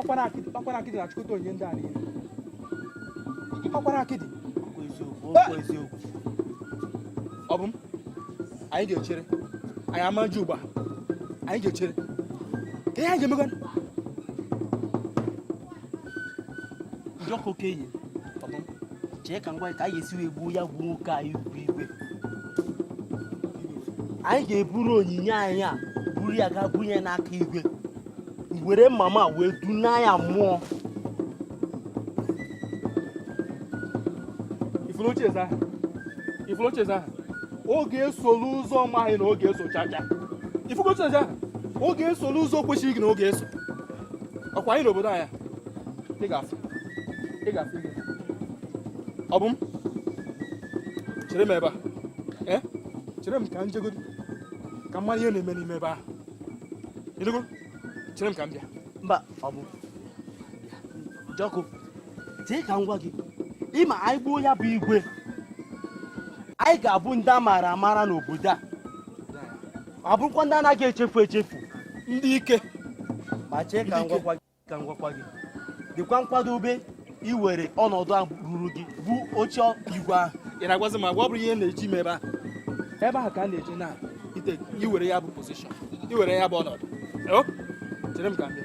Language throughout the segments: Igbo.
ọkwara akịdị ọkwara akịdị na-achịkọta onye ndị a niile ọkwara akịdị ọ bụ m anyị ga-echere anyị ama ji ugbu a anyị ga-echere kee ihe anyị ga-emekwa njọkụ okenye chee ka m gwa ka anyị ga-esi wee gbuo ya gbuo nwoke anyị ukwu igwe anyị ga-eburu onyinye anyị a buru ya gaa bunye n'aka igwe were mama wee duna ya mmụọ ifolocheza oge esolu ụzọ maghị na oge eso chacha ifolocheza oge esolu ụzọ kwesịrị gị na oge eso ọkwa anyị n'obodo anyị a ị ga-asị ị ga-asị gị ọ bụ m chere m ebe a ee chere m ka m jegodi ka m mara ihe na-eme n'ime ebe ahụ ị nụgo chere m ka m bịa mba ọ bụ njọkụ chee ka m gwa gị ị ma anyị gbuo ya bụ igwe anyị ga-abụ ndị a maara amara n'obodo a ma bụrụkwa ndị anaghị echefu echefu ndị ike ma chee ka m gwakwa gị ka m gwakwa gị dịkwa nkwadobe iwere ọnọdụ a ruru gị bụ oche igwe ahụ ị na-agwazi m agwa ọ bụrụ ihe na-eji m ebe a ebe ahụ ka a na-eji na ite iwere ya bụ position iwere ya bụ ọnọdụ Yo, chere m ka m bịa.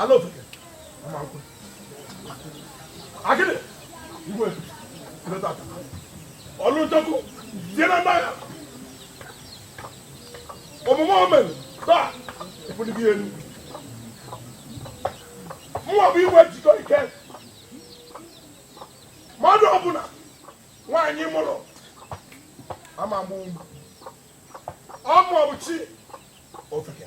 ala ofeke ama nkwe akịdị igwe leta aka ọlụ nchekwu sie na mmanya omume omen taa ebuligo ihe elu mụwa bụ igwe jikọ ike mmadụ ọbụla nwaanyị mụrụ ama egbu ọ ma ọ bụ chi ofeke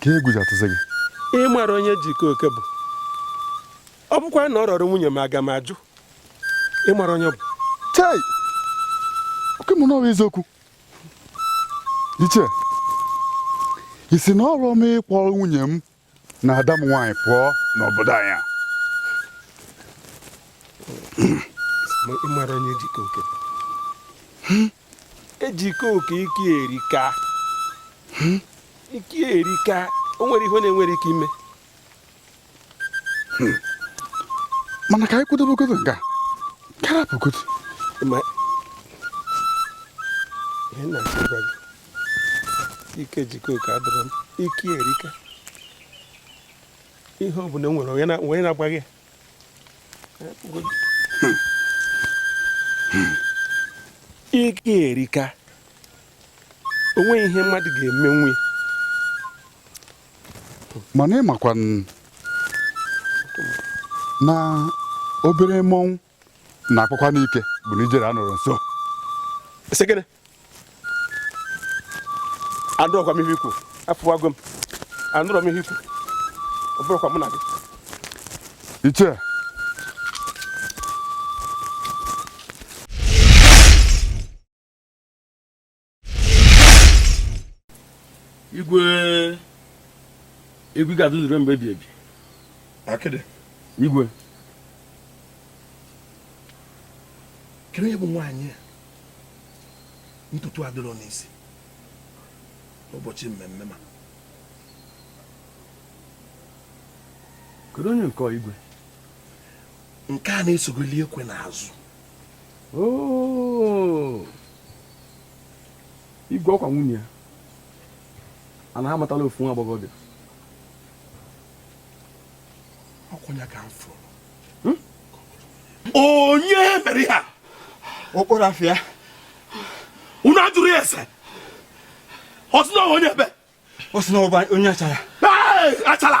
ka egwu ji atụzi gị ị mara onye jikọ oke bụ ọ bụkwa na ọ rọrọ nwunye m aga m ajụ ị mara onye bụ chei oke mụnwa eziokwu ichie ị si n'ụlọ m ị kpọrọ nwunye m na ada m nwaanyị pụọ n'obodo anyị a ị mara onye jikọ oke bụ ejike oke ike erika hmm? ike erika o nwere ihe na-enwere ike ime hmm. mana ka anyị kwụdobegodu nga ka a rapụgodu ihe m na-achọ ịgwa gị ike jikọ oke adọrọ m ike erika ihe ọ bụla nwere onye na-agbaghị ike erika onweghị ihe mmadụ ga-emenwu mana ịmakwa na obere mmọnwụ na-akpakwanụ ike bụ na ijele anọrọ nso anụrọkwa m ihe ikwu afụwago m anụrọ m ihe ikwu ọ bụrụkwa mụ na gị iche igwe igwe ga-adị ruo mgbe ebi ebi akịdị igwe kedu onye bụ nwaanyị a ntutu adịrọ n'isi n'ụbọchị mmemme ma kedu onye nke igwe nke a na-esogoli ekwe n'azụ oh! igwe ọkwa nwunye ya a na-amatala ofu nwa agbọghọbịa ọkwanụ ya ka m fụrụ hmm? onye mere ihe a ọ kpọrọ afa ya unu ajụrụ ya ese ọ sị na ọ bụ onye ebee ọ sị na ọ bụ onye achara achara